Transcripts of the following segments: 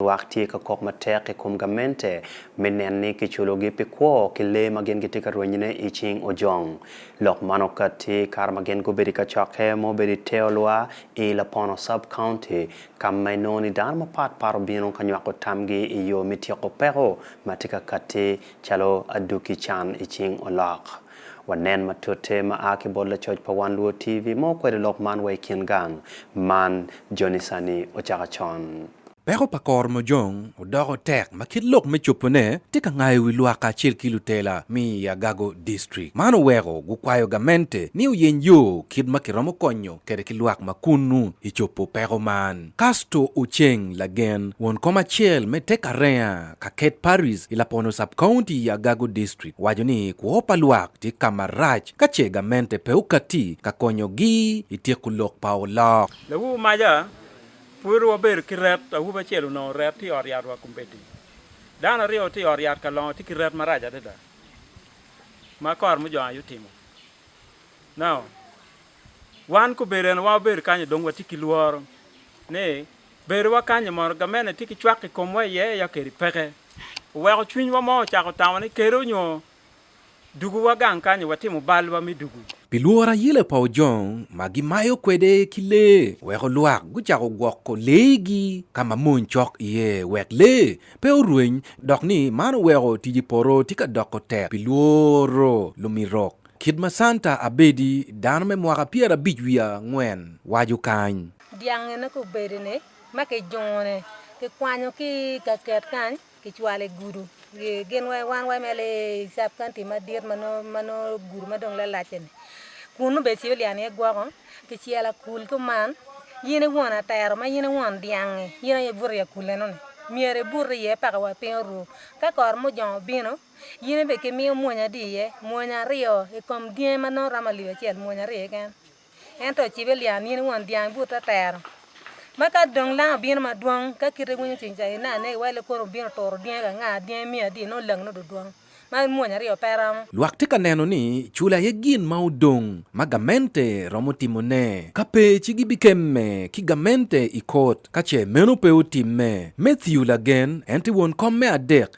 Lwak tye ka kok matek i kom gamente me nen ni kiculogi pi kwo ki lee ma gin gitye ka rwenyone i cing ojong. Lok man okatti kare ma gin gubedo i kacokke ma obedo i te olwa i Lapono Sub-County, ka ma inongo ni dano mapat pat obino ka nywako tamgi i yo me tyeko peko ma tye ka katti calo aduki can i cing olok. Wanen matute ma a ki bot lacoc pa Wan Luo TV ma okwedo lok man wa i kin gang man joni sani ocaka con. Peko pa koro mojong odoko tek ma kit lok me cobone tye ka ngayo wi lwak kacel ki lutela mi i Agago District. Man oweko gukwayo gamente ni oyeny yo kit ma kiromo konyo kede ki lwak ma kunnu i cobo peko man. Casto Oceng Lagen, won kom acel me Tek Arenga ka Ket Paris i Lapono Sub-County i Agago District owaco ni kwo pa lwak tye ka marac ka ce gamente pe okatti ka konyogi i tyeko lok pa olok. Lawu maja, Pud wabedo ki ret, awobi acel onongo ret tye i ot yatwa kombeddi. Dano aryo tye i ot yat ka longo tye ki ret marac adada ma kor mujongo aye otimo. Now, wan kobedo en wa wabedo kanyo dong watye ki lworo ni bedowa kanyi mono gamente tye ki cwak i komwa iye ya kedi peke. Oweko cwinywa mo ocako tamo ni kede onyo Dugu wa gang kany watimo bal wa me dugu. Pi lworo ayele pa ojong ma gimayo kwede ki lee weko lwak gucako gwoko lee gi ka ma mony cok iye wek lee pe orweny dok ni man oweko tic i poto tye ka doko tek pi lworo lumirok kit ma Santa Abedi dano me mwaka pyera abic wiye angwen waco kany. Dyangi ne ki obedi ni ma ki jungo ni ki kwanyo ki i gaket kany. Kicwalo i gudu gin wai wan wai me sub county madit ma nongo gudu ma dong lalac-ce-ni. Kun nongo bene ecyo lyang iye gwoko, kicelo akul kuman, in i won atero ma in i won dyang-ngi, in aye ibuto i akul eno-ni, myero ibut iye paka wa piny oru. Ka kor mujong obino, in bene kimiyo mwonyo adi iye? Mwonyo aryo i kom dyangi ma nongo romo alip acel, mwonyo aryo keken. Ento ocibe lya ni in won dyang but atero, ma ka dong lang obino madwong, ka kite iwinyo cwiny ca ine ane iwai le kono obino turo dyangi ka nga, dyangi miyo adi, nongo langi nongo dudwong, ma mwonya aryo pe romo. Lwak tye ka neno ni cula aye gin ma odong ma gamente romo timone. Ka pe ci gibikemme ki gamente i kot ka ce meno pe otimme. Matthew lagen, en tye won kom me adek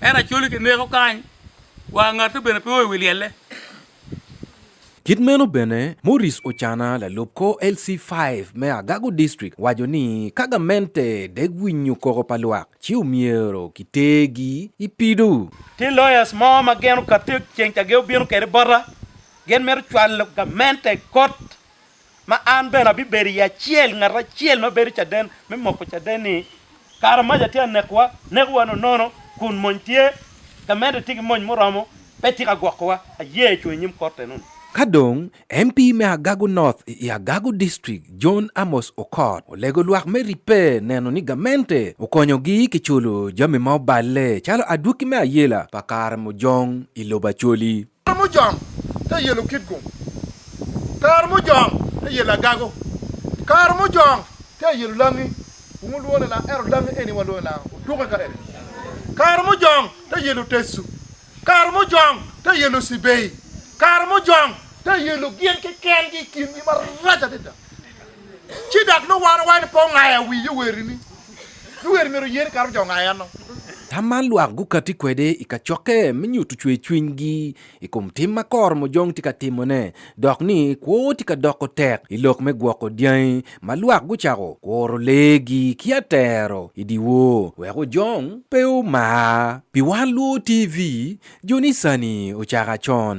En acoli ki neko kany, wa ngate bene pe o i wi lyelle. Kit meno bene, Morris Ocana, lalub kor LC five me Agago District waco ni ka gamente dek winyo koko pa lwak ci omyero ki tergi i pido. Tye lawyers mo ma gin okatte ceng ca gin obino kwede bota, gin mito cwalo gamente i kot ma an bene abibedo iye acel, ngat acel ma bedo caden me moko caden-ni. Kara maca tye ka nekowa, nekowa nonono, kun mony tye ka medde, tye ki mony muromo, pe tye ka gwokowa. Aye cung i nyim Kot enoni. Ka dong, MP me Agago North i Agago District, John Amos Okot, olego lwak me ribbe neno ni gamente okonyogi ki culo jami ma oballe calo adwoki me ayela pa kare mujong i lobo Acholi. Kare mujong te yelo kitgum, kare mujong te yelo agago, kare mujong te yelo langi, wun wulwongo ni langa ento langi eni walwongo ni langa otuke ka eni, kare mujong te yelo tecu, kare mujong te yelo cibei, kare mujong te yelo gin kekengi i kingi marac adada. Ci dok nongo wan owaco ni pe ongayo awi yowerini. Yoweri myero oye ni kato jo ongayo enno. Tam man lwak gukatti kwede i kacokke me nyuto cwercwinygi i kom tim ma koro mujong tye ka timone dok ni kwo tye ka doko tek i lok me gwoko dyangi ma lwak gucako kuro leegi ki atero i dyewor wek ojong pe omar. Pi wan luwo TV, joni sani ocako acon.